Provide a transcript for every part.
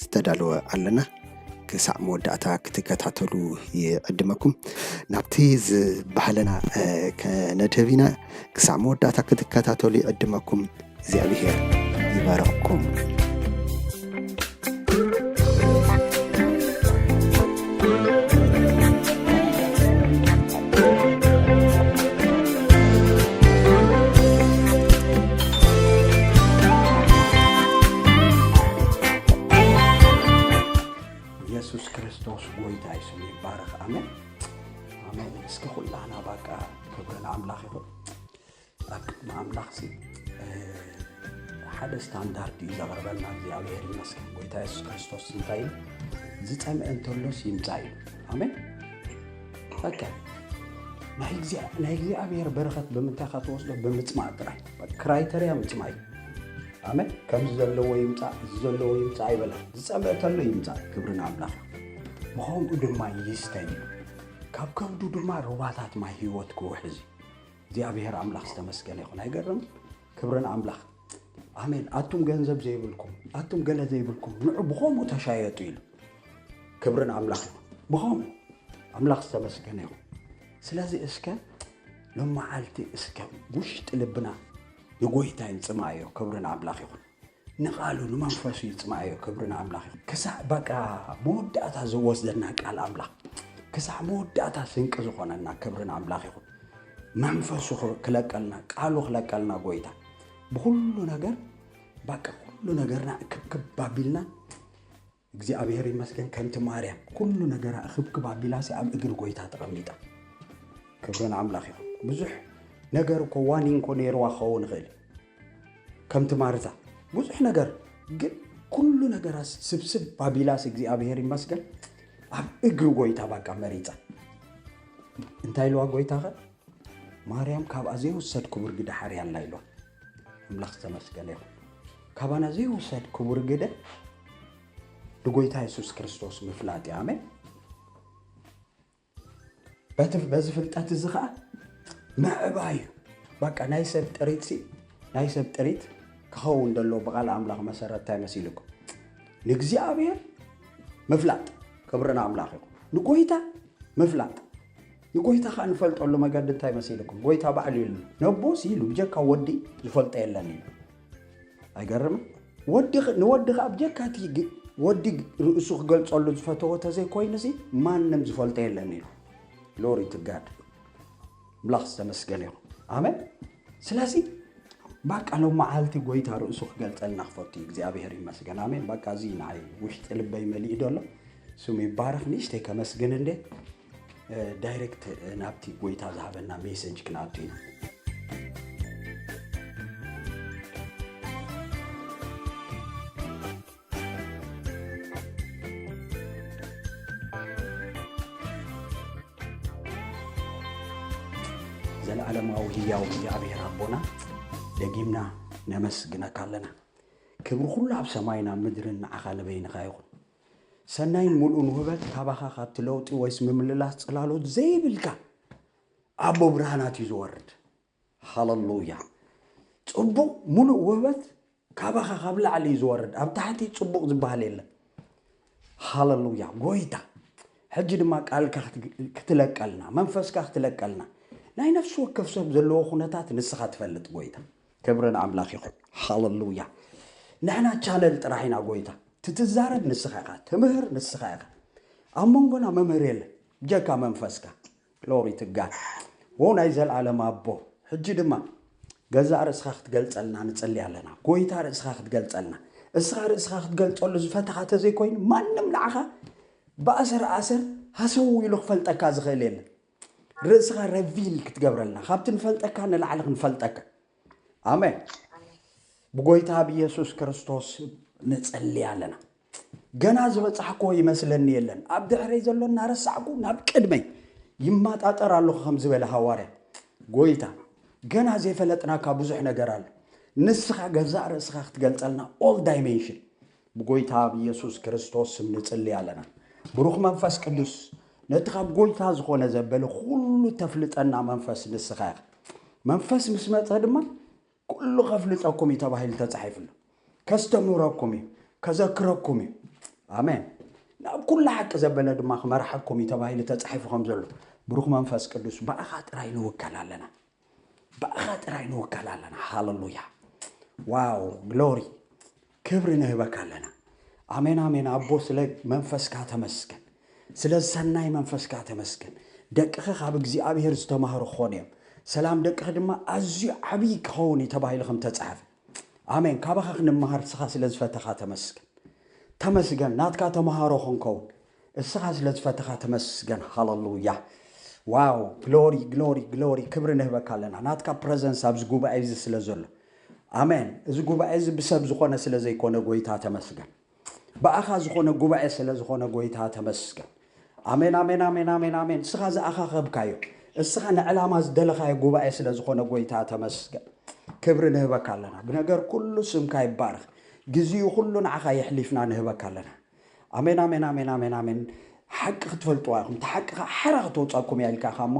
ዝተዳለወ ኣለና ክሳዕ መወዳእታ ክትከታተሉ ይዕድመኩም ናብቲ ዝባህለና ከነድህብ ኢና ክሳዕ መወዳእታ ክትከታተሉ ይዕድመኩም እግዚኣብሄር ይባረኽኩም ኢየሱስ ክርስቶስ ጎይታ ስሙ ይባረኽ። ኣሜን ኣሜን። እስኪ ኩላና ባቃ ክብሪ ንኣምላኽ ይኹን። ኣብ ቅድሚ ኣምላኽሲ ሓደ ስታንዳርድ እዩ ዘቕርበልና እግዚኣብሔር ይመስገን። ጎይታ የሱስ ክርስቶስ እንታይ እዩ ዝጸምአ እንተሎስ ይምጻ እዩ። ኣሜን። በቃ ናይ እግዚኣብሔር በረኸት ብምንታይ ካ ትወስዶ? ብምጽማእ ጥራይ ክራይተርያ ምጽማእ እዩ። ኣሜን። ከምዚ ዘለዎ ይምጻእ እዚ ዘለዎ ይምጻእ ኣይበለን። ዝጸምአ እንተሎ ይምጻእ። ክብሪ ንኣምላኽ። ብኸምኡ ድማ ይስተይ እዩ። ካብ ከብዱ ድማ ሩባታት ማይ ህይወት ክውሕዝ እዩ። እግዚኣብሔር ኣምላኽ ዝተመስገነ ይኹን ኣይገርም ክብሪ ንኣምላኽ ኣሜን ኣቱም ገንዘብ ዘይብልኩም ኣቱም ገለ ዘይብልኩም ንዑ ብኸምኡ ተሻየጡ ኢሉ ክብሪ ንኣምላኽ ይኹን ብኸምኡ ኣምላኽ ዝተመስገነ ይኹን ስለዚ እስከ ሎመዓልቲ እስከ ውሽጢ ልብና ንጎይታ ይንፅማዮ ክብሪ ንኣምላኽ ይኹን ንቃሉ ንመንፈሱ ይጽማኣዮ ክብሪ ንኣምላኽ ይኹን ክሳዕ በቃ መወዳእታ ዝወስደና ቃል ኣምላኽ ክሳዕ መወዳእታ ስንቂ ዝኾነና ክብሪ ንኣምላኽ ይኹን መንፈሱ ክለቀልና ቃሉ ክለቀልና ጎይታ ብኩሉ ነገር በቃ ኩሉ ነገርና ክብክብ ኣቢልና እግዚኣብሔር ይመስገን ከምቲ ማርያም ኩሉ ነገራ እኽብክብ ኣቢላሲ ኣብ እግሪ ጎይታ ተቐሚጣ ክብሪ ንኣምላኽ ይኹን ብዙሕ ነገር እኮ ዋኒን እኮ ነይርዋ ክኸውን ይኽእል ከምቲ ማርታ ብዙሕ ነገር ግን ኩሉ ነገራ ስብስብ ባቢላስ እግዚኣብሔር ይመስገን ኣብ እግሪ ጎይታ ባቃ መሪፃ እንታይ ኢልዋ ጎይታ ኸ ማርያም ካብኣ ዘይውሰድ ክቡር ግዳ ሓርያ ኣላ ኢልዋ ኣምላኽ ዝተመስገነ ይኹን ካባና ዘይውሰድ ክቡር ግደ ንጎይታ የሱስ ክርስቶስ ምፍላጥ እዩ ኣሜን በዚ ፍልጠት እዚ ከዓ ምዕባ እዩ በቃ ናይ ሰብ ጥሪት ሲ ናይ ሰብ ጥሪት ክኸውን ደሎ ብቓል ኣምላኽ መሰረት እንታይ መሲልኩም ንእግዚኣብሔር ምፍላጥ ክብሪ ንኣምላኽ ይኹን ንጎይታ ምፍላጥ ንጎይታ ከኣ ንፈልጠሉ መገዲ እንታይ መሲልኩም ጎይታ ባዕሉ ኢሉ ነቦሲ ኢሉ ብጀካ ወዲ ዝፈልጦ የለን ኢሉ ኣይገርምን ወዲ ንወዲ ከኣ ብጀካ እቲ ወዲ ርእሱ ክገልጸሉ ዝፈተዎ ተዘይኮይኑሲ ማንም ዝፈልጦ የለን ኢሉ ግሎሪ ቱ ጋድ ኣምላኽ ዝተመስገነ ይኹን ኣሜን ስለዚ ባቃ ሎም መዓልቲ ጎይታ ርእሱ ክገልጸልና ክፈቱ እዩ እግዚኣብሔር ይመስገን ኣሜን ባቃ እዚ ንዓይ ውሽጢ ልበይ መሊኡ ደሎ ስሙ ይባረኽ ንእሽተይ ከመስግን እንዴ ዳይሬክት ናብቲ ጎይታ ዝሃበና ሜሰጅ ክንኣቱ ኢና ዘለዓለማዊ ህያው እግዚኣብሔር ኣቦና ደጊምና ነመስግነካ ኣለና ክብሪ ኩሉ ኣብ ሰማይና ምድርን ንዓኻ ንበይንኻ ይኹን ሰናይን ሙሉእን ውህበት ካባኻ ካብቲ ለውጢ ወይስ ምምልላስ ጽላሎት ዘይብልካ ኣቦ ብርሃናት እዩ ዝወርድ። ሃለሉያ! ጽቡቕ ሙሉእ ውህበት ካባኻ ካብ ላዕሊ እዩ ዝወርድ፣ ኣብ ታሕቲ ጽቡቕ ዝበሃል የለን። ሃለሉያ! ጎይታ ሕጂ ድማ ቃልካ ክትለቀልና፣ መንፈስካ ክትለቀልና፣ ናይ ነፍሲ ወከፍ ሰብ ዘለዎ ኩነታት ንስኻ ትፈልጥ ጎይታ። ክብሪ ንኣምላኽ ይኹን ሃለሉያ ንሕና ቻነል ጥራሕ ኢና ጎይታ ትትዛረብ ንስኻ ኢኻ ትምህር ንስኻ ኢኻ ኣብ መንጎና መምህር የለ ብጀካ መንፈስካ ግሎሪ ትጋል ዎ ናይ ዘለኣለም ኣቦ ሕጂ ድማ ገዛእ ርእስኻ ክትገልጸልና ንጽሊ ኣለና ጎይታ ርእስኻ ክትገልጸልና እስኻ ርእስኻ ክትገልጸሉ ዝፈተኻ ተዘይኮይኑ ማንም ንዓኻ ብኣሰር ኣሰር ሃሰው ኢሉ ክፈልጠካ ዝኽእል የለን ርእስኻ ረቪል ክትገብረልና ካብቲ ንፈልጠካ ንላዕሊ ክንፈልጠካ ኣሜን ብጎይታ ብየሱስ ክርስቶስ ንጸልይ ኣለና ገና ዝበፃሕክዎ ይመስለኒ የለን ኣብ ድሕረይ ዘሎ እናረሳዕኩ ናብ ቅድመይ ይመጣጠር ኣለኹ ከም ዝበለ ሃዋርያ ጎይታ ገና ዘይፈለጥናካ ብዙሕ ነገር ኣሎ ንስኻ ገዛእ ርእስኻ ክትገልፀልና ኦል ዳይሜንሽን ብጎይታ ብየሱስ ክርስቶስ ስም ንጽሊ ኣለና ብሩኽ መንፈስ ቅዱስ ነቲ ካብ ጎይታ ዝኾነ ዘበለ ኩሉ ተፍልጠና መንፈስ ንስኻ ኢኻ መንፈስ ምስ መጸ ድማ ኩሉ ከፍልጠኩም እዩ ተባሂሉ ተጻሒፉ ኣሎ ከስተምህረኩም እዩ ከዘክረኩም እዩ ኣሜን ናብ ኩሉ ሓቂ ዘበለ ድማ ክመርሓኩም እዩ ተባሂሉ ተጻሒፉ ከም ዘሎ ብሩኽ መንፈስ ቅዱስ ብኣኻ ጥራይ ንውከል ኣለና ብኣኻ ጥራይ ንውከል ኣለና ሃለሉያ ዋው ግሎሪ ክብሪ ንህበካ ኣለና ኣሜን ኣሜን ኣቦ ስለ መንፈስካ ተመስገን ስለ ሰናይ መንፈስካ ተመስገን ደቅኺ ካብ እግዚኣብሄር ዝተማህሩ ክኾኑ እዮም ሰላም ደቅኺ ድማ ኣዝዩ ዓብዪ ክኸውን እዩ ተባሂሉ ከም ተጻሕፈ ኣሜን ካባኻ ክንመሃር ስኻ ስለ ዝፈተኻ ተመስገን ተመስገን ናትካ ተምሃሮ ክንከውን እስኻ ስለ ዝፈተኻ ተመስገን ሃለሉያ። ዋው ግሎሪ ግሎሪ ግሎሪ ክብሪ ንህበካ ኣለና ናትካ ፕረዘንስ ኣብዚ ጉባኤ እዚ ስለ ዘሎ ኣሜን እዚ ጉባኤ እዚ ብሰብ ዝኾነ ስለ ዘይኮነ ጎይታ ተመስገን ብኣኻ ዝኾነ ጉባኤ ስለ ዝኾነ ጎይታ ተመስገን ኣሜን ኣሜን ኣሜን ኣሜን ኣሜን እስኻ ዝኣኻኸብካዮ እስኻ ንዕላማ ዝደለኻዮ ጉባኤ ስለ ዝኾነ ጎይታ ተመስገን ክብሪ ንህበካ ኣለና ብነገር ኩሉ ስምካ ይባረኽ ግዜኡ ኩሉ ንዓኻ የሕሊፍና ንህበካ ኣለና ኣሜን ኣሜን ኣሜን ኣሜን ኣሜን ሓቂ ክትፈልጥዋ ኢኹም እቲ ሓቂ ከዓ ሓራ ክተውፃኩም እያ ኢልካ ኢኻ እሞ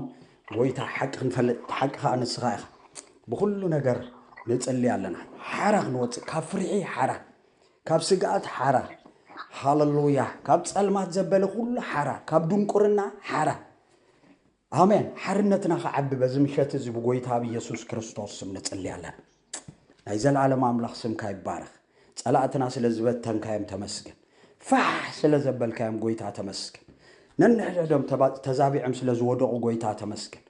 ጎይታ ሓቂ ክንፈልጥ እቲ ሓቂ ከዓ ንስኻ ኢኻ ብኩሉ ነገር ንፅሊ ኣለና ሓራ ክንወፅእ ካብ ፍርሒ ሓራ ካብ ስግኣት ሓራ ሃለሉያ ካብ ፀልማት ዘበለ ኩሉ ሓራ ካብ ድንቁርና ሓራ ኣሜን ሓርነትና ክዓቢ በዚ ምሸት እዚ ብጎይታ ብየሱስ ክርስቶስ ስም ንጽሊ ኣለና ናይ ዘልኣለም ኣምላኽ ስምካ ይባረኽ ጸላእትና ስለ ዝበተንካዮም ተመስገን ፋሕ ስለ ዘበልካዮም ጎይታ ተመስገን ነንሕድሕዶም ተዛቢዕም ስለ ዝወደቑ ጎይታ ተመስገን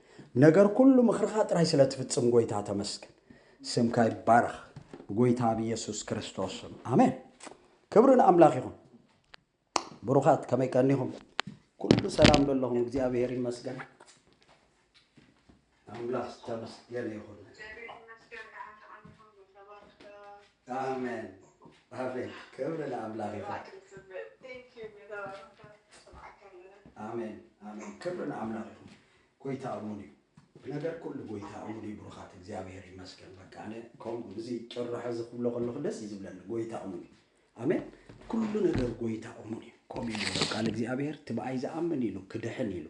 ነገር ኩሉ ምኽርኻ ጥራይ ስለ ትፍጽም ጎይታ ተመስገን ስምካ ይባረኽ ብጎይታ ብየሱስ ክርስቶስ ስም ኣሜን ክብሪ ንኣምላኽ ይኹን ብሩኻት ከመይ ቀኒኹም? ኩሉ ሰላም ዶ ኣለኹም? እግዚኣብሄር ይመስገን ኣምላኽ ዝተመስገነ ይኹን። ኣሜን ኣሜን፣ ክብሪ ንኣምላኽ ይኹን። ኣሜን ኣሜን፣ ክብሪ ንኣምላኽ ይኹን። ጎይታ እሙን እዩ፣ ነገር ኩሉ ጎይታ እሙን እዩ። ብሩኻት እግዚኣብሄር ይመስገን። በቃ ኣነ ከምኡ እዚ ጭርሖ እዚ ክብሎ ከለኹ ደስ እዩ ዝብለኒ። ጎይታ እሙን እዩ። ኣሜን ኩሉ ነገር ጎይታ እሙን እዩ ከምኡ እዩ ነሩ ቃል እግዚኣብሔር ትብኣይ ዝኣምን ኢሉ ክድሕን ኢሉ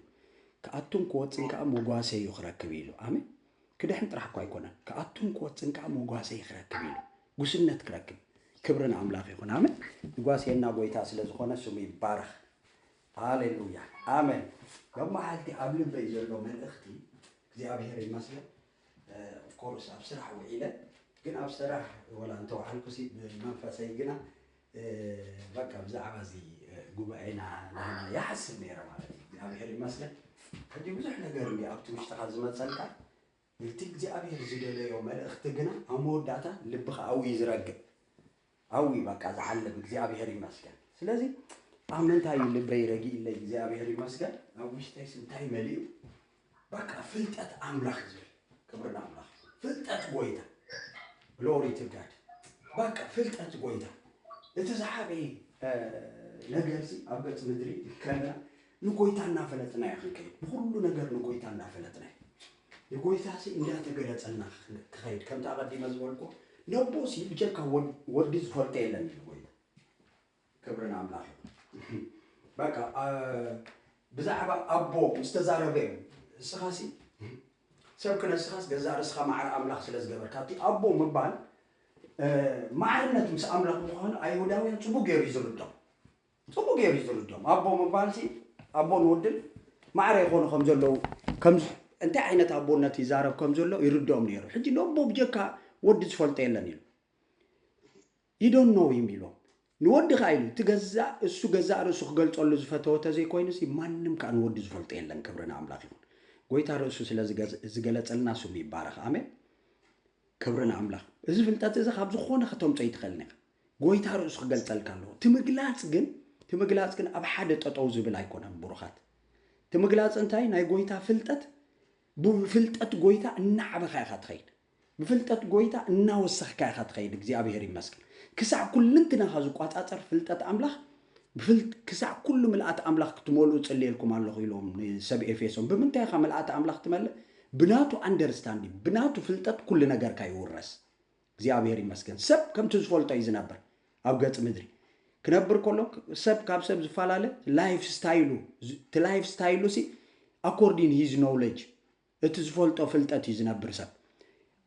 ክኣቱን ክወፅን ከዓ መጓሰ እዩ ክረክብ ኢሉ ኣሜን ክድሕን ጥራሕ እኳ ኣይኮነን ክኣቱን ክወፅን ከዓ መጓሰ ክረክብ ኢሉ ጉስነት ክረክብ ክብሪ ንኣምላኽ ይኹን ኣሜን ይጓስየና ጎይታ ስለ ዝኾነ ስሙ ይባረኽ ሃሌሉያ ኣሜን መማዓልቲ ኣብ ልበይ ዘሎ መልእኽቲ እግዚኣብሔር ይመስገን ኦፍ ኮርስ ኣብ ስራሕ ውዒለ ግን ኣብ ስራሕ ወላ እንተወዓልኩሲ ብመንፈሰይ ግና በቃ ብዛዕባ እዚ ጉባኤና ናህና ይሓስብ ነይረ ማለት እዩ። እግዚኣብሔር ይመስገን ሕጂ ብዙሕ ነገር እንዲ ኣብቲ ውሽጥኻ ዝመፀልካ እቲ እግዚኣብሔር ዝደለዮ መልእኽቲ ግና ኣብ መወዳእታ ልብኻ ኣብኡ እዩ ዝረግእ። ኣውይ በቃ ዝዓለብ እግዚኣብሔር ይመስገን ስለዚ ኣብ ምንታይ እዩ ልበይ ረጊእለይ እግዚኣብሔር ይመስገን ኣብ ውሽጠይስ እንታይ መሊኡ በቃ ፍልጠት ኣምላኽ ዝብል ክብሪ ንኣምላኽ ፍልጠት ጎይታ ግሎሪ ቱ ጋድ በቃ ፍልጠት ጎይታ እቲ ዝዓበየ እ፣ ነገር ሲ ኣብ ገጽ ምድሪ ከለና ንጎይታ እናፈለጥና ኢና ክንከይድ ብኩሉ ነገር ንጎይታ እናፈለጥና ኢና ንጎይታሲ እንዳ ተገለጸልና ክከይድ ከምቲ ኣቀዲመ ዝበልኩ ነቦሲ ብጀካ ወዲ ዝፈልጦ የለን ኢሉ ጎይታ ክብሪ ንኣምላኽ ይኹን በቃ ብዛዕባ ኣቦ ምስ ተዛረበ እዩ እስኻሲ ሰብ ክነስኻስ ገዛእ ርእስኻ ማዕረ ኣምላኽ ስለ ዝገበርካ እቲ ኣቦ ምባል ማዕርነት ምስ ኣምላኽ ምዃኑ ኣይሁዳውያን ጽቡቅ ገይሩ እዩ ዝርድኦም ጽቡቅ ጌሩ እዩ ዝርድኦም ኣቦ ምባልሲ ኣቦን ወድን ማዕረ ይኾኑ ከም ዘለዉ ከም እንታይ ዓይነት ኣቦነት ይዛረብ ከም ዘሎ ይርድኦም ነይሩ ሕጂ ንኣቦ ብጀካ ወዲ ዝፈልጦ የለን ኢሉ you don't know him ኢሎም ንወዲ ከኣ ኢሉ እቲ ገዛእ እሱ ገዛእ ርእሱ ክገልጸሉ ዝፈተወ ተዘይኮይኑሲ ማንም ከኣ ንወዲ ዝፈልጦ የለን ክብሪ ንኣምላኽ ይኹን ጎይታ ርእሱ ስለ ዝገለጸልና ስሙ ይባረኽ ኣሜን ክብሪ ንኣምላኽ እዚ ፍልጠት እዚ ካብ ዝኾነ ከተምጾ ይትኽእል ኒኻ ጎይታ ርእሱ ክገልጸልካ ኣለዎ ትምግላጽ ግን ትምግላጽ ግን ኣብ ሓደ ጠጠው ዝብል ኣይኮነን ቡሩኻት ትምግላጽ እንታይ ናይ ጎይታ ፍልጠት ብፍልጠት ጎይታ እናዓበኻ ኢኻ ትኸይድ ብፍልጠት ጎይታ እናወሰኽካ ኢኻ ትኸይድ እግዚኣብሔር ይመስገን ክሳዕ ኩልንትናኻ ዝቋጻጸር ፍልጠት ኣምላኽ ክሳዕ ኩሉ ምልኣት ኣምላኽ ክትመልኡ ጽልየልኩም ኣለኹ ኢሎም ንሰብ ኤፌሶን ብምንታይ ኢኻ ምልኣት ኣምላኽ ትመልእ ብናቱ ኣንደርስታንዲንግ ብናቱ ፍልጠት ኩሉ ነገርካ ይውረስ እግዚኣብሔር ይመስገን ሰብ ከምቲ ዝፈልጦ እዩ ዝነብር ኣብ ገጽ ምድሪ ክነብር ከሎ ሰብ ካብ ሰብ ዝፈላለ ላይፍ ስታይሉ እቲ ላይፍ ስታይሉ ሲ ኣኮርዲን ሂዝ ኖውለጅ እቲ ዝፈልጦ ፍልጠት እዩ ዝነብር ሰብ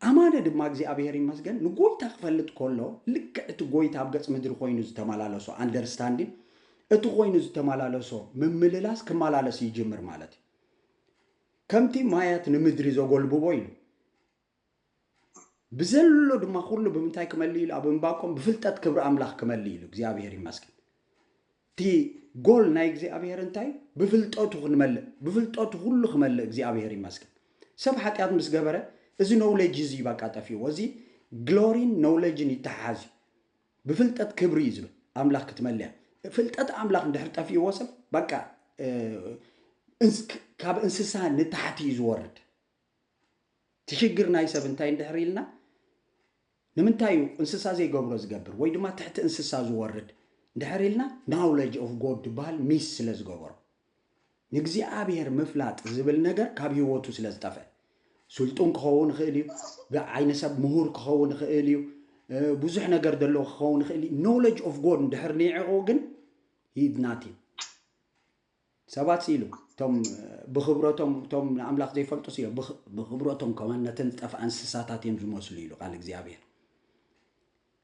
ኣማነ ድማ እግዚኣብሔር ይመስገን ንጎይታ ክፈልጥ ከሎ ልክዕ እቲ ጎይታ ኣብ ገጽ ምድሪ ኮይኑ ዝተመላለሶ ኣንደርስታንዲን እቲ ኮይኑ ዝተመላለሶ ምምልላስ ክመላለስ ይጅምር ማለት እዩ ከምቲ ማያት ንምድሪ ዘጎልብቦ ኢሉ ብዘሎ ድማ ኩሉ ብምንታይ ክመልእ ኢሉ ኣብ እምባቆም ብፍልጠት ክብሪ ኣምላኽ ክመልእ ኢሉ እግዚኣብሔር ይመስገን እቲ ጎል ናይ እግዚኣብሔር እንታይ ብፍልጠቱ ክንመልእ ብፍልጠቱ ኩሉ ክመልእ እግዚኣብሔር ይመስገን ሰብ ሓጢኣት ምስ ገበረ እዚ ኖውሌጅ እዚ በቃ ጠፊዎ እዚ ግሎሪን ኖውሌጅን ይተሓሓዝ እዩ ብፍልጠት ክብሪ እዩ ዝብል ኣምላኽ ክትመልያ ፍልጠት ኣምላኽ እንድሕር ጠፊዎ ሰብ በቃ ካብ እንስሳ ንታሕቲ እዩ ዝወርድ እቲ ሽግር ናይ ሰብ እንታይ እንድሕር ኢልና ንምንታይ እዩ እንስሳ ዘይገብሮ ዝገብር ወይ ድማ ትሕቲ እንስሳ ዝወርድ እንድሕር ኢልና ናውለጅ ኦፍ ጎድ ዝበሃል ሚስ ስለ ዝገበሮ ንእግዚኣብሔር ምፍላጥ ዝብል ነገር ካብ ህይወቱ ስለ ዝጠፍአ ስልጡን ክኸውን ይኽእል እዩ ብዓይነ ሰብ ምሁር ክኸውን ይኽእል እዩ ብዙሕ ነገር ዘለዎ ክኸውን ይኽእል እዩ ኖውለጅ ኦፍ ጎድ እንድሕር ኒዕቑ ግን ሂድ ናቲን ሰባት ሲ ኢሉ እቶም ብኽብረቶም እቶም ንኣምላኽ ዘይፈልጡ ሲ ኢሎም ብኽብረቶም ከማን ነተን ዝጠፍኣ እንስሳታት እዮም ዝመስሉ ኢሉ ቃል እግዚኣብሔር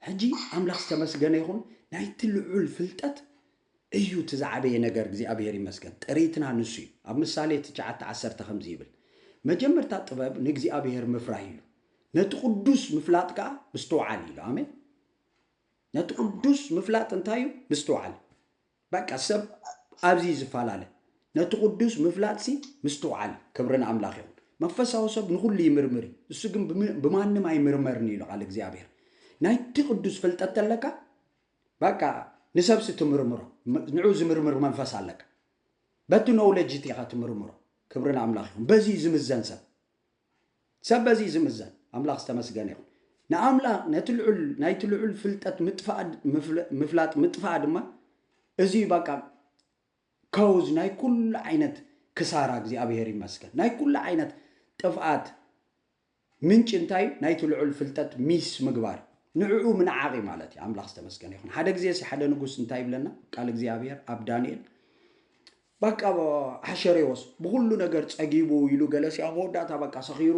ሕጂ ኣምላኽ ዝተመስገነ ይኹን ናይቲ ልዑል ፍልጠት እዩ እቲ ዝዓበየ ነገር እግዚኣብሔር ይመስገን ጥሪትና ንሱ እዩ ኣብ ምሳሌ ትሽዓተ ዓሰርተ ከምዚ ይብል መጀመርታ ጥበብ ንእግዚኣብሔር ምፍራህ ኢሉ ነቲ ቅዱስ ምፍላጥ ከዓ ምስትውዓል ኢሉ ኣሜን ነቲ ቅዱስ ምፍላጥ እንታይ እዩ ምስትውዓል በቃ ሰብ ኣብዚ እዩ ዝፈላለ ነቲ ቁዱስ ምፍላጥሲ ምስትውዓል ክብሪ ንኣምላኽ ይኹን መንፈሳዊ ሰብ ንኹሉ ይምርምር እዩ እሱ ግን ብማንም ኣይምርመርን ኢሉ ቃል እግዚኣብሔር ናይቲ ቅዱስ ፍልጠት ተለካ በቃ ንሰብሲ ትምርምሮ ንዑ ዝምርምር መንፈስ ኣለካ በቲ ኖውለጅ እቲ ኢኻ ትምርምሮ ክብሪ ንኣምላኽ ይኹን በዚ እዩ ዝምዘን ሰብ ሰብ በዚ እዩ ዝምዘን። ኣምላኽ ዝተመስገነ ይኹን። ንኣምላኽ ነቲ ልዑል ናይቲ ልዑል ፍልጠት ምጥፋኣ ምፍላጥ ምጥፋኣ ድማ እዚ እዩ ባቃ ከውዝ ናይ ኩሉ ዓይነት ክሳራ እግዚኣብሔር ይመስገን ናይ ኩሉ ዓይነት ጥፍኣት ምንጭ እንታይ እዩ ናይቲ ልዑል ፍልጠት ሚስ ምግባር ንዕኡ ምንዓቕ እዩ ማለት እዩ ኣምላኽ ዝተመስገነ ይኹን ሓደ ግዜ ሲ ሓደ ንጉስ እንታይ ይብለና ቃል እግዚኣብሔር ኣብ ዳንኤል በቃ ኣሕሸሬዎስ ብኹሉ ነገር ጸጊቡ ኢሉ ገለስ ኣብ መወዳእታ በቃ ሰኺሩ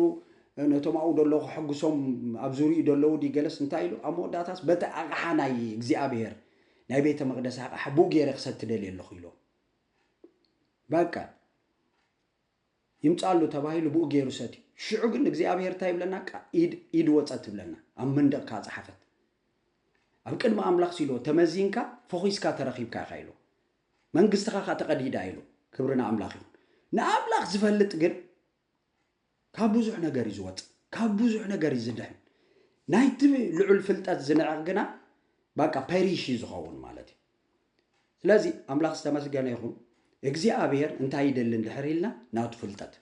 ነቶም ኣብኡ ደለዉ ከሐጉሶም ኣብ ዙርኡ ደለዉ ድዩ ገለስ እንታይ ኢሉ ኣብ መወዳእታስ በቲ ኣቕሓ ናይ እግዚኣብሔር ናይ ቤተ መቅደስ ኣቕሓ ብኡ ገይረ ክሰቲ ደልየ ኣለኹ ኢሎም በቃ ይምጻሉ ተባሂሉ ብኡ ገይሩ ሰትዩ ሽዑ ግን እግዚኣብሔር እንታይ ይብለና ኢድ ኢድ ወጸት ትብለና ኣብ መንደቕ ከኣ ጸሓፈት ኣብ ቅድሚ ኣምላኽ ሲልዎ ተመዚንካ ፈኺስካ ተረኺብካ ኢኻ ኢልዎ መንግስትኻ ከኣ ተቐዲዳ ኢሉ። ክብሪ ንኣምላኽ ይኹን። ንኣምላኽ ዝፈልጥ ግን ካብ ብዙሕ ነገር እዩ ዝወጽእ፣ ካብ ብዙሕ ነገር እዩ ዝድሕን። ናይቲ ልዑል ፍልጠት ዝንዕቕ ግና ባቃ ፐሪሽ እዩ ዝኸውን ማለት እዩ። ስለዚ ኣምላኽ ዝተመስገነ ይኹን እግዚኣብሔር እንታይ ይደሊ እንድሕር ኢልና ናቱ ፍልጠት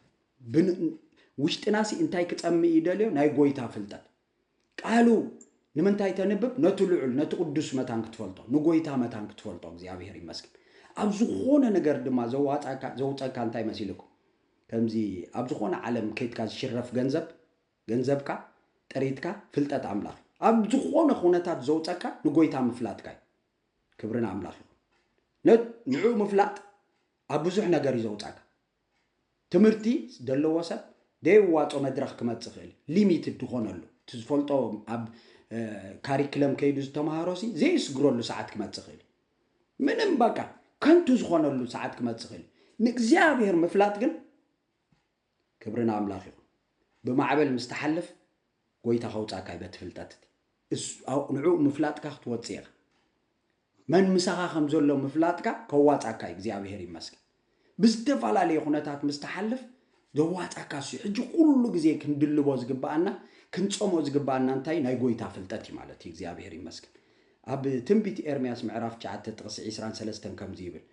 ውሽጥናሲ እንታይ ክጸምእ ይደልዮ ናይ ጎይታ ፍልጠት ቃሉ ንምንታይ ተንብብ ነቲ ልዑል ነቲ ቅዱስ መታን ክትፈልጦ ንጎይታ መታን ክትፈልጦ እግዚኣብሔር ይመስገን ኣብ ዝኾነ ነገር ድማ ዘዋጻካ ዘውጸካ እንታይ መሲልኩም ከምዚ ኣብ ዝኾነ ዓለም ከይትካ ዝሽረፍ ገንዘብ ገንዘብካ ጥሪትካ ፍልጠት ኣምላኽ እዩ ኣብ ዝኾነ ኩነታት ዘውጸካ ንጎይታ ምፍላጥካ እዩ ክብሪ ንኣምላኽ ይኹን ንዕኡ ምፍላጥ ኣብ ብዙሕ ነገር እዩ ዘውጻካ ትምህርቲ ደለዎ ሰብ ደየዋጾ መድረኽ ክመጽእ ይኽእል ሊሚትድ ዝኾነሉ እቲ ዝፈልጦ ኣብ ካሪክለም ከይዱ ዝተምሃሮ ሲ ዘየስግረሉ ሰዓት ክመጽእ ይኽእል ምንም በቃ ከንቱ ዝኾነሉ ሰዓት ክመጽእ ይኽእል ንእግዚኣብሔር ምፍላጥ ግን ክብሪ ንኣምላኽ ይኹን ብማዕበል ምስ ትሓልፍ ጎይታ ከውጻካ እዩ በቲ ፍልጠት እቲ እሱ ንዕኡ ምፍላጥካ ክትወጽእ ኢካ መን ምሳካ ከም ዘሎ ምፍላጥካ ከዋጻካ እዩ እግዚኣብሄር ይመስገን ብዝተፈላለየ ኩነታት ምስ ትሓልፍ ዘዋጻካ እሱ እዩ ሕጂ ኩሉ ግዜ ክንድልቦ ዝግባኣና ክንጸምኦ ዝግባኣና እንታይ ናይ ጎይታ ፍልጠት እዩ ማለት እዩ እግዚኣብሄር ይመስገን ኣብ ትንቢት ኤርምያስ ምዕራፍ 9 ጥቕሲ 20 ሰለስተን ከምዚ ይብል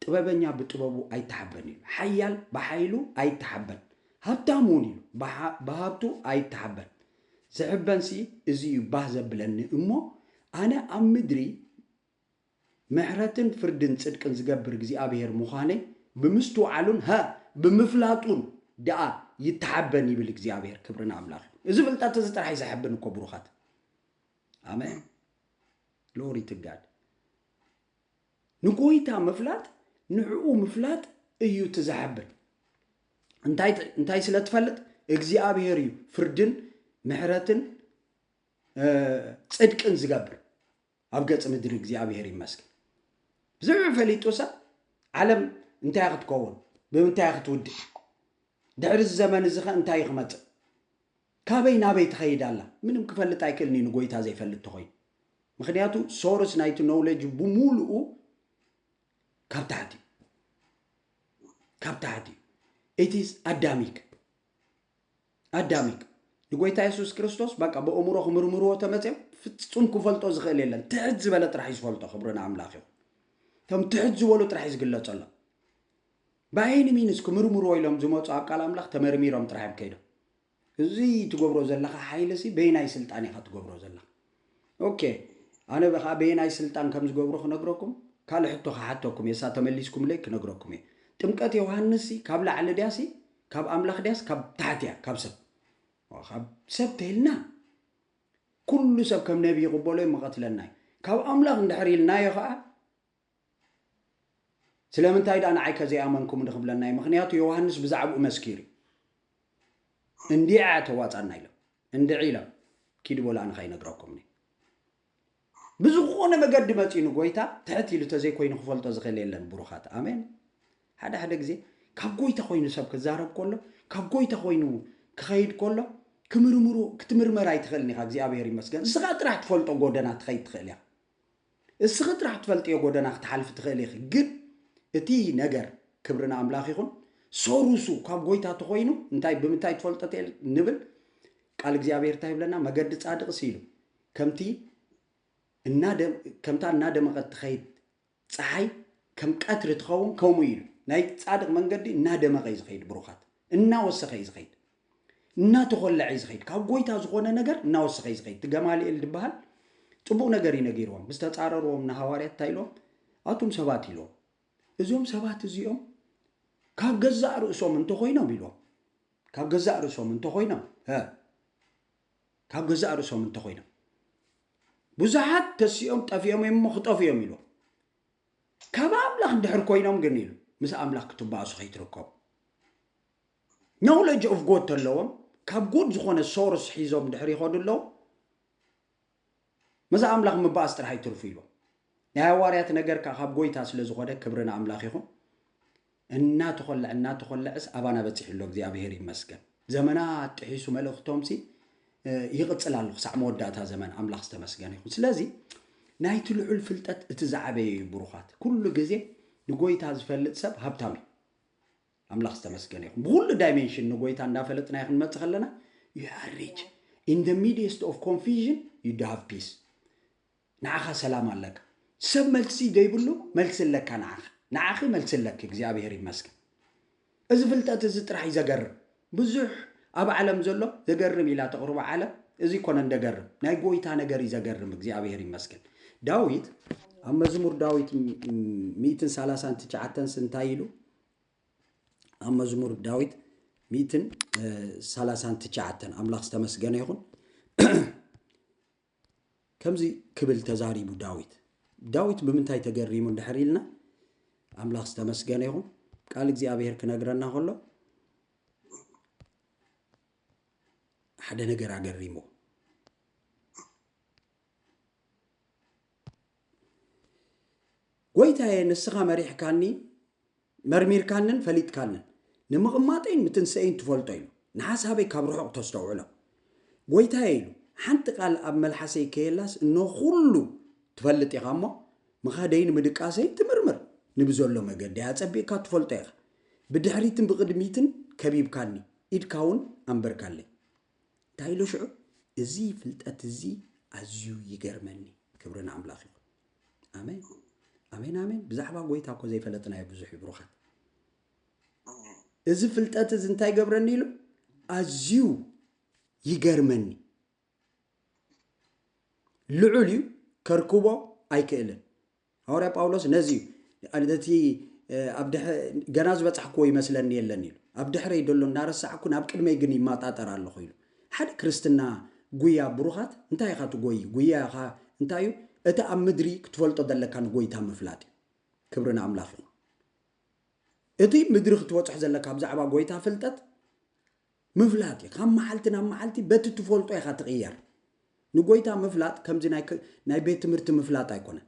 ጥበበኛ ብጥበቡ ኣይተሓበን እዩ ሓያል ብሓይሉ ኣይተሓበን ሃብታም እውን እዩ ብሃብቱ ኣይተሓበን። ዝሕበንሲ እዚ እዩ ባህ ዘብለኒ እሞ ኣነ ኣብ ምድሪ ምሕረትን ፍርድን ጽድቅን ዝገብር እግዚኣብሄር ምዃነይ ብምስትውዓሉን ሃ ብምፍላጡን ደኣ ይተሓበን ይብል እግዚኣብሄር ክብሪ ንኣምላኽ ይኹን። እዚ ፍልጠት እዚ ጥራሕ እዩ ዘሐብን እኮ ብሩኻት። ኣሜን ግሎሪ ቱ ጋድ። ንጎይታ ምፍላጥ ንዕኡ ምፍላጥ እዩ እቲ ዘሐብን እንታይ እንታይ ስለ ትፈልጥ እግዚኣብሄር እዩ ፍርድን ምሕረትን ጽድቅን ዝገብር ኣብ ገጽ ምድሪ እግዚኣብሄር ይመስገን ብዝዕ ፈሊጡ ሰብ ዓለም እንታይ ክትከውን ብምንታይ ክትውድእ ድሕሪ እዚ ዘመን እዚ ከ እንታይ ክመጽእ ካበይ ናበይ ትኸይድ ኣላ ምንም ክፈልጥ ኣይክእልን እዩ ንጎይታ ዘይፈልጥ ተኾይኑ ምኽንያቱ ሶርስ ናይቲ ኖውለጅ ብሙሉኡ ካብ ታሕቲ እዩ ካብ ታሕቲ እዩ ኢትስ ኣዳሚክ ኣዳሚክ ንጎይታ የሱስ ክርስቶስ በቃ ብእምሮ ክምርምርዎ ተመፅኦም ፍፁም ክፈልጦ ዝኽእል የለን ትሕት ዝበለ ጥራሕ እዩ ዝፈልጦ ክብሪ ንኣምላኽ ይኹን እቶም ትሕት ዝበሉ ጥራሕ እዩ ዝግለፀሎም ባይኒ ሚንስ ክምርምርዎ ኢሎም ዝመጹ ኣብ ቃል ኣምላኽ ተመርሚሮም ጥራሕ እዮም ከይዶም እዚ ትገብሮ ዘለኻ ሓይሊ ሲ በየናይ ስልጣን ኢኻ ትገብሮ ዘለኻ ኦኬ ኣነ በኻኣ በየናይ ስልጣን ከም ዝገብሮ ክነግረኩም ካልእ ሕቶ ክሓተኩም እየ እሳ ተመሊስኩምለይ ክነግረኩም እየ ጥምቀት ዮሃንስ ሲ ካብ ላዕሊ ድያ ሲ ካብ ኣምላኽ ድያስ ካብ ታሕቲ እያ ካብ ሰብ ካብ ሰብ ተይልና ኩሉ ሰብ ከም ነቢ ይቕበሎ እዩ መቐትለና እዩ ካብ ኣምላኽ እንድሕር ኢልናዮ ኸኣ ስለምንታይ ድኣ ንዓይ ከ ዘይኣመንኩምኒ ክብለና እዩ ምኽንያቱ ዮውሃንስ ብዛዕብኡ መስኪሩ እዩ እንዲዐ ተዋጻና ኢሎም እንድዒ ኢሎም ኪዱ በሉ ኣነ ከይነግረኩም እኔ ብዝኾነ መገዲ መጺኡ ንጎይታ ትሕት ኢሉ ተዘይኮይኑ ክፈልጦ ዝኽእል የለን ብሩኻት ኣሜን ሓደ ሓደ ግዜ ካብ ጎይታ ኮይኑ ሰብ ክዛረብ ከሎ ካብ ጎይታ ኮይኑ ክኸይድ ከሎ ክምርምሩ ክትምርመር ኣይትኽእልን ኢኻ እግዚኣብሔር ይመስገን እስኻ ጥራሕ ትፈልጦ ጎደና ትኸይድ ትኽእል ኢኻ እስኺ ጥራሕ ትፈልጥዮ ጎደና ክትሓልፊ ትኽእሊ ኢኺ ግን እቲ ነገር ክብሪ ንኣምላኽ ይኹን ሰሩሱ ካብ ጎይታ ተኾይኑ እንታይ ብምንታይ ትፈልጦ ትል ንብል ቃል እግዚኣብሔር እንታይ ይብለና መገዲ ጻድቅ ሲሉ ከምቲ ከምታ እናደመቐት ትኸይድ ፀሓይ ከም ቀትሪ ትኸውን ከምኡ ኢሉ ናይ ፃድቕ መንገዲ እናደመቐ እዩ ዝኸይድ ብሩኻት እናወሰኸ እዩ ዝኸይድ እናተኾለዐ'ዩ ዝኸይድ፣ ካብ ጎይታ ዝኾነ ነገር እናወሰኸ'ዩ ዝኸይድ፣ እቲ ገማልኤል ድበሃል ጽቡቕ ነገር'ዩ ነጊርዎም፣ ምስ ተጻረርዎም ንሃዋርያት እንታይ ኢሎም፣ ኣቱም ሰባት ኢሎም፣ እዞም ሰባት እዚኦም ካብ ገዛእ ርእሶም እንተኾይኖም ኢሎም፣ ካብ ገዛእ ርእሶም እንተኾይኖም ሀ ካብ ገዛእ ርእሶም እንተኾይኖም ብዙሓት ተሲኦም ጠፊኦም እዮም እሞ ክጠፉ እዮም ኢሉ ካብ ኣምላኽ ድሕር ኮይኖም ግን ኢሉ ምስ ኣምላኽ ክትባእሱ ከይትርከቡ Knowledge of God ተለዎም ካብ good ዝኾነ source ሒዞም ድሕር ይኸዱ ኣለዉ ምዝ ኣምላኽ ምባኣስ ጥራሕ ይትርፉ ኢሎም ናይ ኣዋርያት ነገር ከኣ ካብ ጎይታ ስለ ዝኾነ ክብሪ ንኣምላኽ ይኹን እናተኾልዕ እናተኾልዕስ ኣባና በጺሑ ኣሎ እግዚኣብሔር ይመስገን ዘመናት ጥሒሱ መልእኽቶምሲ ይቕጽል ኣሎ ክሳዕ መወዳእታ ዘመን ኣምላኽ ዝተመስገነ ይኹን ስለዚ ናይቲ ልዑል ፍልጠት እቲ ዝዓበየ እዩ ብሩኻት ኩሉ ግዜ ንጎይታ ዝፈልጥ ሰብ ሃብታም እዩ ኣምላኽ ዝተመስገነ ይኹን ብኹሉ ዳይሜንሽን ንጎይታ እንዳፈለጥናዮ ክንመጽእ ከለና you are rich in the midst of confusion you do have peace ንዓኻ ሰላም ኣለካ ሰብ መልሲ ዘይብሉ መልሲ ኣለካ ንዓኻ ንዓኺ መልሲ ኣለኪ እግዚኣብሔር ይመስገን እዚ ፍልጠት እዚ ጥራሕ እዩ ዘገርም ብዙሕ ኣብ ዓለም ዘሎ ዘገርም ኢላ ተቕርቦ ዓለም እዚ ኮነን ደገርም ናይ ጎይታ ነገር እዩ ዘገርም እግዚኣብሔር ይመስገን ዳዊት ኣብ መዝሙር ዳዊት ሚእትን ሰላሳን ትሽዓተንስ እንታይ ኢሉ ኣብ መዝሙር ዳዊት ሚእትን ሰላሳን ትሽዓተን ኣምላኽ ዝተመስገነ ይኹን ከምዚ ክብል ተዛሪቡ ዳዊት ዳዊት ብምንታይ ተገሪሙ እንድሕር ኢልና ኣምላኽ ዝተመስገነ ይኹን ቃል እግዚኣብሄር ክነግረና ከሎ ሓደ ነገር ኣገሪሞ ጐይታየ ንስኻ መሪሕካኒ መርሚርካንን ፈሊጥካንን ንምቕማጠይን ምትንስኤይን ትፈልጦ ኢሉ ንሓሳበይ ካብ ርሑቕ ተስተውዕሎ ጐይታየ ኢሉ ሓንቲ ቃል ኣብ መልሓሰይ ከየላስ እኖ ዅሉ ትፈልጥ ኢኻ እሞ ምኻደይን ምድቃሰይን ትምርምር ንብዘሎ መገዲ ኣጸቢቕካ ትፈልጦ ኢኻ ብድሕሪትን ብቕድሚትን ከቢብካኒ ኢድካ እውን ኣንበርካለይ እንታይ ኢሉ ሽዑ እዚ ፍልጠት እዚ ኣዝዩ ይገርመኒ ክብሪ ንኣምላኽ ይኹን ኣሜን ኣሜን ኣሜን ብዛዕባ ጎይታ እኮ ዘይፈለጥናዮ ብዙሕ እዩ ብሩኻት እዚ ፍልጠት እዚ እንታይ ገብረኒ ኢሉ ኣዝዩ ይገርመኒ ልዑል እዩ ከርክቦ ኣይክእልን ሃዋርያ ጳውሎስ ነዚ እዩ ነቲ ገና ዝበጻሕክዎ ይመስለኒ የለን ኢሉ ኣብ ድሕረይ ደሎ እናረሳዕኩ ናብ ቅድመይ ግን ይማጣጠር ኣለኹ ኢሉ ሓደ ክርስትና ጉያ ብሩኻት እንታይ ኢኻ ትጎይ ጉያኻ እንታይ እዩ እቲ ኣብ ምድሪ ክትፈልጦ ዘለካ ንጎይታ ምፍላጥ እዩ ክብሪ ንኣምላኽ እዩ እቲ ምድሪ ክትበጽሖ ዘለካ ብዛዕባ ጎይታ ፍልጠት ምፍላጥ ካብ መዓልቲ ናብ መዓልቲ በቲ ትፈልጦ ኢኻ ትቕየር ንጎይታ ምፍላጥ ከምዚ ናይ ቤት ትምህርቲ ምፍላጥ ኣይኮነን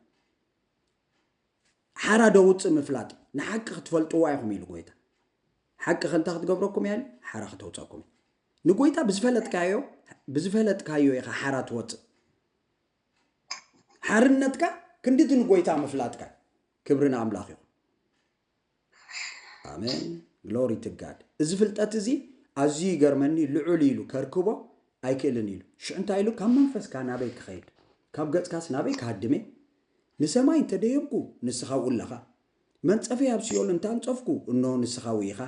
ሓራ ዶ ውፅእ ምፍላጥ እዩ ንሓቂ ክትፈልጥዋ ኢኹም ኢሉ ጎይታ ሓቂ ከንታ ክትገብረኩም እያ ሓራ ክተውፀኩም ንጎይታ ብዝፈለጥካዮ ብዝፈለጥካዮ ኢኻ ሓራ ትወፅእ ሓርነትካ ክንድቲ ንጎይታ ምፍላጥካ ክብሪ ንኣምላኽ ይኹን ኣሜን ግሎሪ ቱ ጋድ እዚ ፍልጠት እዚ ኣዝዩ ይገርመኒ ልዑል ኢሉ ከርክቦ ኣይክእልን ኢሉ ሽዑ እንታይ ኢሉ ካብ መንፈስካ ናበይ ክኸይድ ካብ ገጽካስ ናበይ ክሃድመ ንሰማይ እንተደየብኩ ንስኻ ውላኻ መንጸፈይ ኣብ ሲኦል እንታንጸፍኩ እንሆ ንስኻ ውኢኻ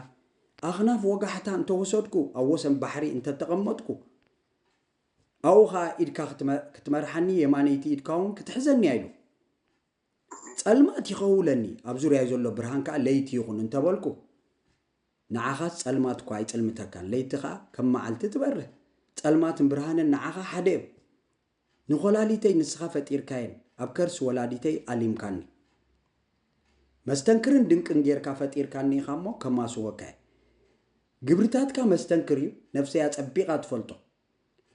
ኣኽናፍ ወጋሕታ እንተወሰድኩ ኣብ ወሰን ባሕሪ እንተተቐመጥኩ ኣብኡ ከዓ ኢድካ ክትመርሓኒ የማነይቲ ኢድካ እውን ክትሕዘኒ ኢሉ ጸልማት ይኸውለኒ ኣብ ዙርያይ ዘሎ ብርሃን ከኣ ለይቲ ይኹን እንተ በልኩ ንዓኻስ ጸልማት እኳ ኣይጽልምተካን ለይቲ ከኣ ከም መዓልቲ ትበርህ ጸልማትን ብርሃንን ንዓኻ ሓደ እዮም ንኮላሊተይ ንስኻ ፈጢርካየን ኣብ ከርሲ ወላዲተይ ኣሊምካኒ መስተንክርን ድንቅን ጌርካ ፈጢርካኒ ኢኻ እሞ ከማስወካየ ግብርታትካ መስተንክር እዩ ነፍሰይ ኣጸቢቓ ትፈልጦ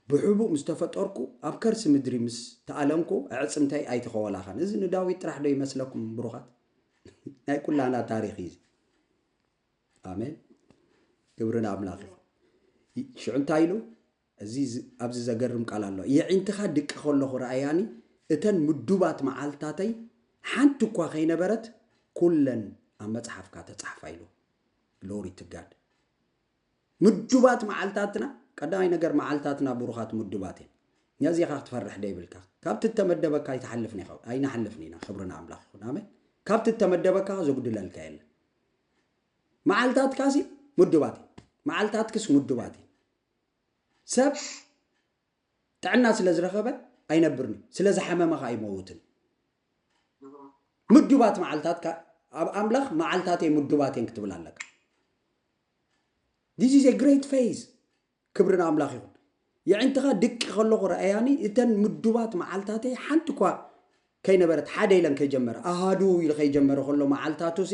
ብሕቡእ ምስ ተፈጠርኩ ኣብ ከርሲ ምድሪ ምስ ተኣለንኩ ኣዕጽምተይ ኣይተኸወላኻን። እዚ ንዳዊት ጥራሕ ዶ ይመስለኩም ብሩኻት? ናይ ኩላህና ታሪኽ እዩ እዚ። ኣሜን ክብሪ ንኣምላኽ ይኹን። ይ- ሽዑ እንታይ ኢሉ እዚ ዝ- ኣብዚ ዘገርም ቃል ኣሎ የዒንትኻ ድቂ ከለኹ ረኣያኒ እተን ምዱባት መዓልትታተይ ሓንቲ እኳ ከይነበረት ኩለን ኣብ መጽሓፍካ ተጻሕፋ ኢሉ ግሎሪ ቱ ጋድ ምዱባት መዓልታትና ቀዳማይ ነገር መዓልታትና ቡሩኻት ምዱባት እየን ነዚኻ ክትፈርሕ ደይብልካ ካብቲ እተመደበካ ኣይትሓልፍን ኢኻ ኣይንሓልፍን ኢና ክብሪ ንኣምላኽ ይኹን ኣሜን ካብቲ እተመደበካ ዘጉድለልካ የለን መዓልታትካሲ ምዱባት እዩ መዓልታትክስ ምዱባት እዩ ሰብ ጥዕና ስለ ዝረኸበ ኣይነብርን እዩ ስለ ዝሓመመ ከዓ ይመውትን ምዱባት መዓልታት ኣብ ኣምላኽ መዓልታተይ ምዱባት እየን ክትብል ኣለካ ዚስ ኢዝ ግሬት ፌዝ ክብሪ ንኣምላኽ ይኹን። የዒንትኻ ድቂ ከለኹ ርኣያኒ እተን ምዱባት መዓልታተይ ሓንቲ እኳ ከይነበረት ሓደ ኢለን ከይጀመረ ኣሃዱ ኢሉ ከይጀመረ ከሎ መዓልታቱሲ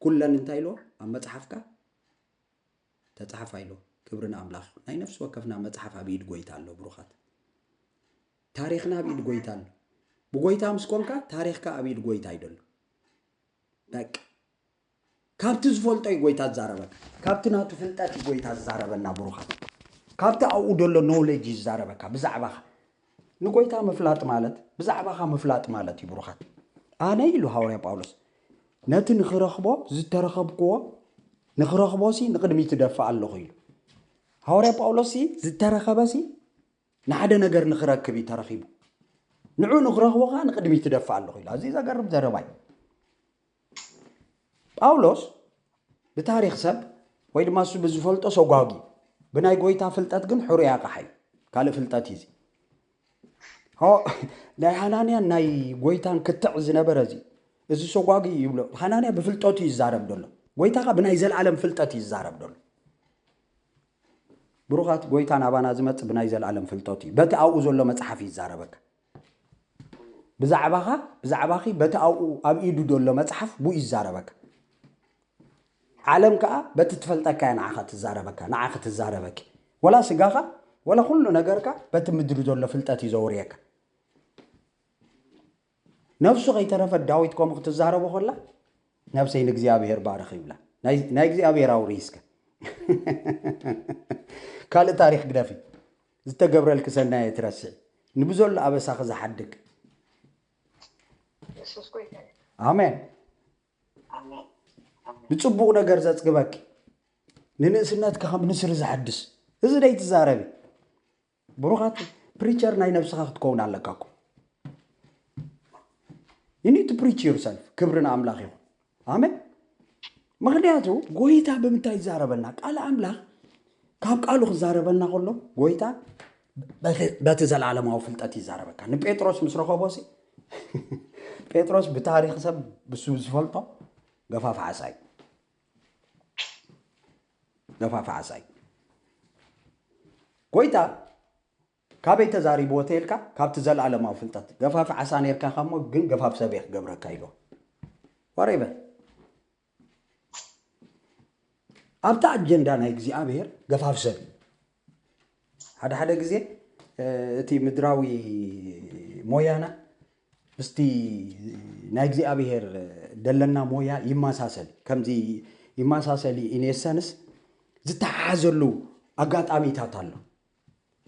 ኩለን እንታይ ኢልዎ ኣብ መጽሓፍካ ተጻሓፋ ኢልዎ ክብሪ ንኣምላኽ ይኹን። ናይ ነፍሲ ወከፍና መጽሓፍ ኣብ ኢድ ጎይታ ኣሎ ብሩኻት ታሪኽና ኣብ ኢድ ጎይታ ኣሎ። ብጎይታ ምስ ኮንካ ታሪኽካ ኣብ ኢድ ጎይታ ይደሎ በቃ ካብቲ ዝፈልጦ እዩ ጎይታ ዝዛረበካ ካብቲ ናቱ ፍልጠት እዩ ጎይታ ዝዛረበና ብሩኻት ካብቲ ኣብኡ ዘሎ knowledge እዩ ዝዛረበካ ብዛዕባኻ ንጎይታ ምፍላጥ ማለት ብዛዕባኻ ምፍላጥ ማለት እዩ ብሩኻት ኣነ ኢሉ ሃዋርያ ጳውሎስ ነቲ ንኽረኽቦ ዝተረኸብክዎ ንኽረኽቦሲ ንቕድሚት እደፍእ ኣለኹ ኢሉ ሃዋርያ ጳውሎስሲ ዝተረኸበሲ ንሓደ ነገር ንኽረክብ እዩ ተረኺቡ ንዑ ንኽረኽቦ ከዓ ንቕድሚት እደፍእ ኣለኹ ኢሉ ኣዝዩ ዘገርም ዘረባ እዩ ጳውሎስ ብታሪኽ ሰብ ወይ ድማ እሱ ብዝፈልጦ ሰጓጉ ብናይ ጎይታ ፍልጠት ግን ሕሩይ ኣቕሓ እዩ ካልእ ፍልጠት እዩ ናይ ሃናንያን ናይ ጎይታን ክትዕ ዝነበረ እዚ እዚ ሰጓጉ እዩ ይብሎ ሃናንያ ብፍልጠቱ እዩ ይዛረብ ደሎ ጎይታ ካ ብናይ ዘለኣለም ፍልጠት እዩ ይዛረብ ደሎ ብሩኻት ጎይታ ናባና ዝመፅ ብናይ ዘለኣለም ፍልጠቱ እዩ በቲ ኣብኡ ዘሎ መፅሓፍ ይዛረበካ ብዛዕባኻ፣ ብዛዕባኺ በቲ ኣብኡ ኣብ ኢዱ ዘሎ መጽሓፍ ብኡ ይዛረበካ። ዓለም ከኣ በቲ ትፈልጠካ እያ ንዓኻ ትዛረበካ፣ ንዓኺ ትዛረበኪ። ወላ ስጋኻ ወላ ኩሉ ነገርካ በቲ ምድሪ ዘሎ ፍልጠት እዩ ዘውርየካ። ነፍሱ ከይተረፈት ዳዊት ከምኡ ክትዛረቦ ከላ ነብሰይ ንእግዚኣብሄር ባርኽ ይብላ። ናይ እግዚኣብሄር ኣውርይ እስከ ካልእ ታሪኽ ግደፊ። ዝተገብረልኪ ሰናይ ኣይትረስዒ ንብዘሎ ኣበሳኺ ዝሓድግ የሱስ ጎይታ እዩ ኣሜን ኣሜን ኣሜን ብጽቡቕ ነገር ዘጽግበኪ ንንእስነትኪ ከም ንስሪ ዘሐድስ እዚ ደይ ትዛረቢ ብሩኻት ፕሪቸር ናይ ነብስኻ ክትከውን ኣለካ እኮ ዩ ኒድ ቱ ፕሪች ዩርሰልፍ ክብሪ ንኣምላኽ ይኹን ኣሜን። ምክንያቱ ጎይታ ብምንታይ ይዛረበና? ቃል ኣምላኽ ካብ ቃሉ ክዛረበና ከሎ ጎይታ በቲ ዘለዓለማዊ ፍልጠት ይዛረበካ። ንጴጥሮስ ምስ ረኸቦ ሲ ጴጥሮስ ብታሪክ ሰብ ብሱ ዝፈልጦ ገፋፍ ዓሳ እዩ ገፋፍ ዓሳ እዩ ጎይታ ካበይ ተዛሪብዎ ተይልካ ካብቲ ዘልኣለማዊ ፍልጠት ገፋፊ ዓሳ ነርካ ኢካ እሞ ግን ገፋፊ ሰብ እየ ክገብረካ ኢልዎ whatever ኣብቲ ኣጀንዳ ናይ እግዚኣብሔር ገፋፊ ሰብ እዩ ሓደ ሓደ ግዜ እቲ ምድራዊ ሞያና ምስቲ ናይ እግዚኣብሔር ደለና ሞያ ይመሳሰል ከምዚ ይመሳሰል ኢኔሰንስ ዝተሓሓዘሉ ኣጋጣሚታት ኣሎ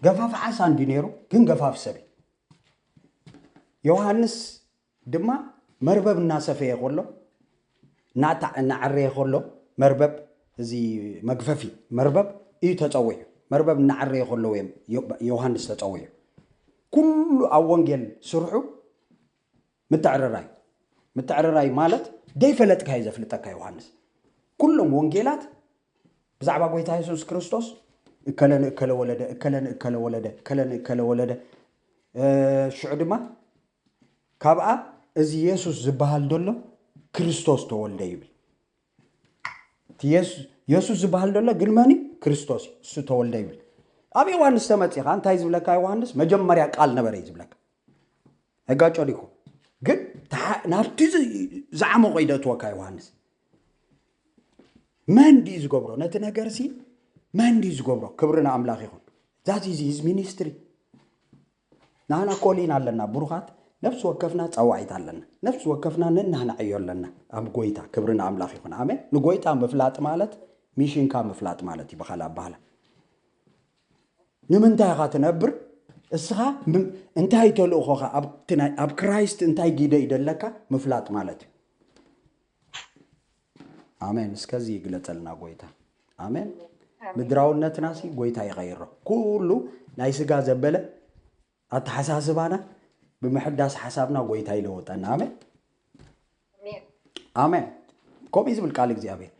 ገፋፍ ዓሳ እንዲ ነይሩ ግን ገፋፍ ሰብ እዩ ዮሃንስ ድማ መርበብ እናሰፈየ ከሎ እናዓረየ ከሎ መርበብ እዚ መግፈፊ መርበብ እዩ ተፀዊዑ መርበብ እናዓረየ ከለዉ እዮም ዮሃንስ ተፀዊዑ ኩሉ ኣብ ወንጌል ስርሑ ምትዕርራይ ምትዕርራይ ማለት ደይፈለጥካዮ ዘፍልጠካ ዮሃንስ ኩሎም ወንጌላት ብዛዕባ ጎይታ የሱስ ክርስቶስ እከለ ንእከለ ወለደ እከለ ንእከለ ወለደ እከለ ንእከለ ወለደ ሽዑ ድማ ካብኣ እዚ የሱስ ዝበሃል ዘሎ ክርስቶስ ተወልደ ይብል የሱስ ዝበሃል ደሎ ግን መን እዩ ክርስቶስ እዩ እሱ ተወልደ ይብል ኣብ ዮሃንስ ተመፂኻ እንታይ ዝብለካ ዮሃንስ መጀመርያ ቃል ነበረ እዩ ዝብለካ ነጋጮ ዲኹ ግን ናብቲ ዝዓመቆ እዩ ደእትወካ ዮሃንስ መን ድዩ ዝገብሮ ነቲ ነገር ሲ መን ድዩ ዝገብሮ ክብሪ ንኣምላኽ ይኹን ዛት ኢዝ ሂዝ ሚኒስትሪ ናህና ኮሊና ኣለና ብሩኻት ነፍሲ ወከፍና ጸዋዒት ኣለና ነፍሲ ወከፍና ነናህና ዕዮ ኣለና ኣብ ጎይታ ክብሪ ንኣምላኽ ይኹን ኣሜን ንጎይታ ምፍላጥ ማለት ሚሽንካ ምፍላጥ ማለት እዩ ብኻልእ ኣባህላ ንምንታይ ኢኻ ትነብር እስኻ እንታይ ተልእኾኻ ኣብቲ ናይ ኣብ ክራይስት እንታይ ጊደ ይደለካ ምፍላጥ ማለት እዩ ኣሜን እስከ እዚ ይግለጸልና ጎይታ ኣሜን ምድራውነትና ሲ ጎይታ ይቀይሮ ኩሉ ናይ ስጋ ዘበለ ኣተሓሳስባና ብምሕዳስ ሓሳብና ጎይታ ይለወጠና ኣሜን ኣሜን ከምኡ ዝብል ቃል እግዚኣብሔር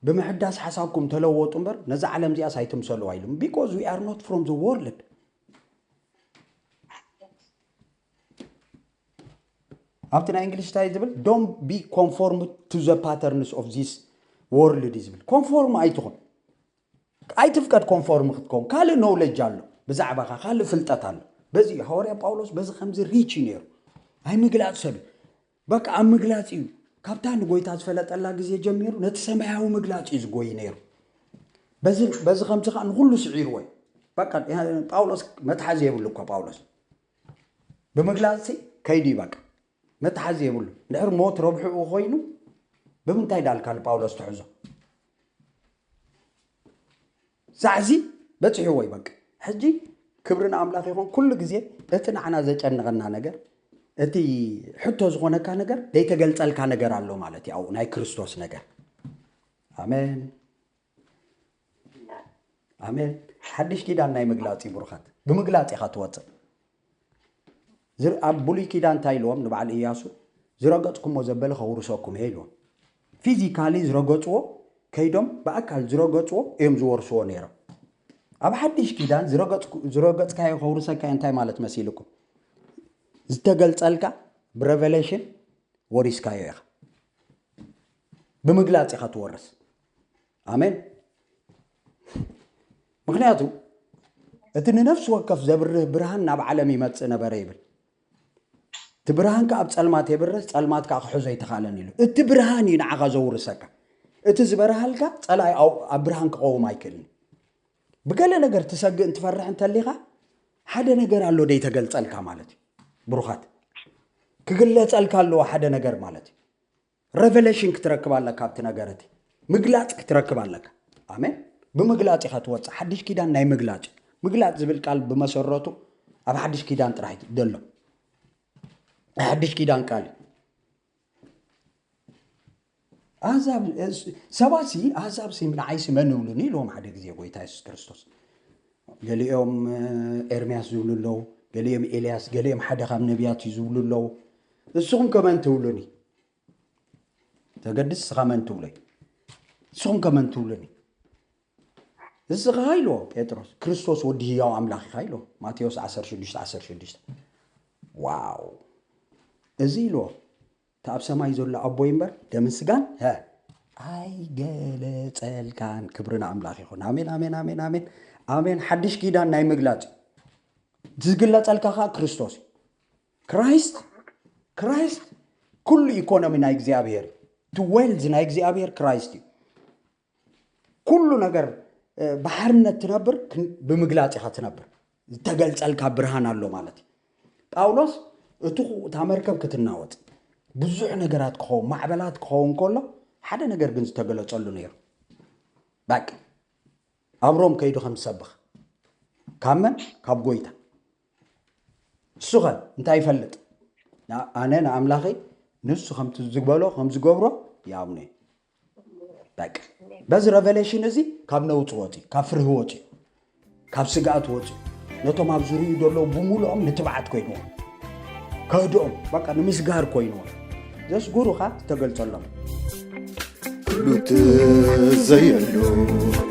ብምሕዳስ ሓሳብኩም ተለወጡ እምበር ነዚ ዓለም እዚኣስ ኣይትምሰልዋ ኢሉ ቢኮዝ ዊ ኣር ኖት ፍሮም ዘ ወርልድ ኣብቲ ናይ እንግሊሽ እንታይ ዝብል ዶን ቢ ኮንፎርም ቱ ዘ ፓተርንስ ኦፍ ዚስ ወርልድ ዝብል ኮንፎርም ኣይትኹን ኣይትፍቀድ ኮንፎርም ክትከውን ካልእ ኖውለጅ ኣሎ ብዛዕባኻ ካልእ ፍልጠት ኣሎ በዚ እዩ ሃዋርያ ጳውሎስ በዚ ከምዚ ሪች እዩ ነይሩ ኣይ ምግላፅ ሰብ እዩ በቃ ኣብ ምግላፅ እዩ ካብታ ንጎይታ ዝፈለጠላ ግዜ ጀሚሩ ነቲ ሰማያዊ ምግላፅ እዩ ዝጎይ ነይሩ በዚ በዚ ከምዚ ከዓ ንኩሉ ስዒርዎ እዩ በቃ ጳውሎስ መትሓዚ የብሉ እኳ ጳውሎስ ብምግላጽሲ ከይዱ እዩ ባቃ መትሓዚ የብሉን እንድሕር ሞት ረብሕኡ ኮይኑ ብምንታይ ዳልካ ንጳውሎስ ትሕዞ ዛዕዚ በፂሕዎ እዩ በቃ ሕጂ ክብሪ ንኣምላኽ ይኹን ኩሉ ግዜ እቲ ንዓና ዘጨንቐና ነገር እቲ ሕቶ ዝኾነካ ነገር ዘይተገልፀልካ ነገር ኣሎ ማለት እዩ ኣብኡ ናይ ክርስቶስ ነገር ኣሜን ኣሜን ሓድሽ ኪዳን ናይ ምግላፅ እዩ ብሩኻት ብምግላፅ ኢኻ ትወፅእ ኣብ ብሉይ ኪዳን እንታይ ኢልዎም ንበዓል እያሱ ዝረገፅኩሞ ዘበለ ከውርሰኩም እየ ኢልዎም ፊዚካሊ ዝረገፅዎ ከይዶም ብኣካል ዝረገፅዎ እዮም ዝወርስዎ ነይሮም ኣብ ሓድሽ ኪዳን ዝረገፅካዮ ከውርሰካ እንታይ ማለት መሲልኩም ዝተገልፀልካ ብሬቨሌሽን ወሪስካዮ ኢኻ ብምግላፅ ኢኻ ትወርስ ኣሜን ምክንያቱ እቲ ንነፍሲ ወከፍ ዘብርህ ብርሃን ናብ ዓለም ይመፅእ ነበረ ይብል እቲ ብርሃን ከዓ ኣብ ፀልማት የብርህ ፀልማት ከዓ ክሕዞ ኣይተኻለን ኢሉ እቲ ብርሃን እዩ ንዓኻ ዘውርሰካ እቲ ዝበርሃልካ ፀላኢ ኣብ ብርሃን ክቐውም ኣይክእልን ብገለ ነገር ትሰግእ እንትፈርሕ እንተሊኻ ሓደ ነገር ኣሎ ደይ ተገልፀልካ ማለት እዩ ብሩኻት ክግለፀልካ ኣለዎ ሓደ ነገር ማለት እዩ ረቨለሽን ክትረክብ ኣለካ ኣብቲ ነገር እቲ ምግላፅ ክትረክብ ኣለካ ኣሜን ብምግላፅ ኢኻ ትወፅእ ሓድሽ ኪዳን ናይ ምግላፅ እዩ ምግላፅ ዝብል ቃል ብመሰረቱ ኣብ ሓድሽ ኪዳን ጥራሕ ዘሎ ናይ ሓድሽ ኪዳን ቃል እዩ ኣህዛብ ሰባት ሲ ኣህዛብ ሲ ንዓይ ሲ መን ይብሉኒ ኢልዎም ሓደ ግዜ ጎይታ የሱስ ክርስቶስ ገሊኦም ኤርምያስ ዝብሉ ኣለዉ፣ ገሊኦም ኤልያስ፣ ገሊኦም ሓደ ካብ ነቢያት እዩ ዝብሉ ኣለዉ። ንስኹም ከ መን ትብሉኒ? ተገድስ እስኻ መን ትብሎ እዩ። ንስኹም ከ መን ትብሉኒ? እስኻ ኢልዎ ጴጥሮስ ክርስቶስ ወዲ ህያው ኣምላኽ ኢኻ ኢልዎ ማቴዎስ 16 16 ዋው እዚ ኢልዎ እቲ ኣብ ሰማይ ዘሎ ኣቦይ እምበር ደምን ስጋን ሀ ኣይገለጸልካን ክብሪ ንኣምላኽ ይኹን ኣሜን ኣሜን ኣሜን ኣሜን ኣሜን ሓድሽ ኪዳን ናይ ምግላጽ እዩ ዝግለጸልካ ከዓ ክርስቶስ እዩ ክራይስት ክራይስት ኩሉ ኢኮኖሚ ናይ እግዚኣብሔር እዩ እቲ ዌልዝ ናይ እግዚኣብሔር ክራይስት እዩ ኩሉ ነገር ብሓርነት ትነብር ብምግላፅ ኢኻ ትነብር ዝተገልፀልካ ብርሃን ኣሎ ማለት እዩ ጳውሎስ እቲ እታ መርከብ ክትናወፅ ብዙሕ ነገራት ክኸውን ማዕበላት ክኸውን ከሎ ሓደ ነገር ግን ዝተገለፀሉ ነይሩ ባቂ ኣብ ሮም ከይዱ ከም ዝሰብኽ ካብ መን ካብ ጎይታ እሱ ኸ እንታይ ይፈልጥ ኣነ ንኣምላኸይ ንሱ ከምቲ ዝበሎ ከም ዝገብሮ ይኣምኖ እዩ በቃ በዚ ረቨሌሽን እዚ ካብ ነውፂ ወፂ ካብ ፍርሂ ወፂ ካብ ስግኣት ወፂ ነቶም ኣብ ዝርዩ ዘለዉ ብምሉኦም ንትብዓት ኮይንዎም ከህድኦም በቃ ንምስጋር ኮይንዎም ዘስጉሩኻ ዝተገልጸሎም ሉት ዘየሉ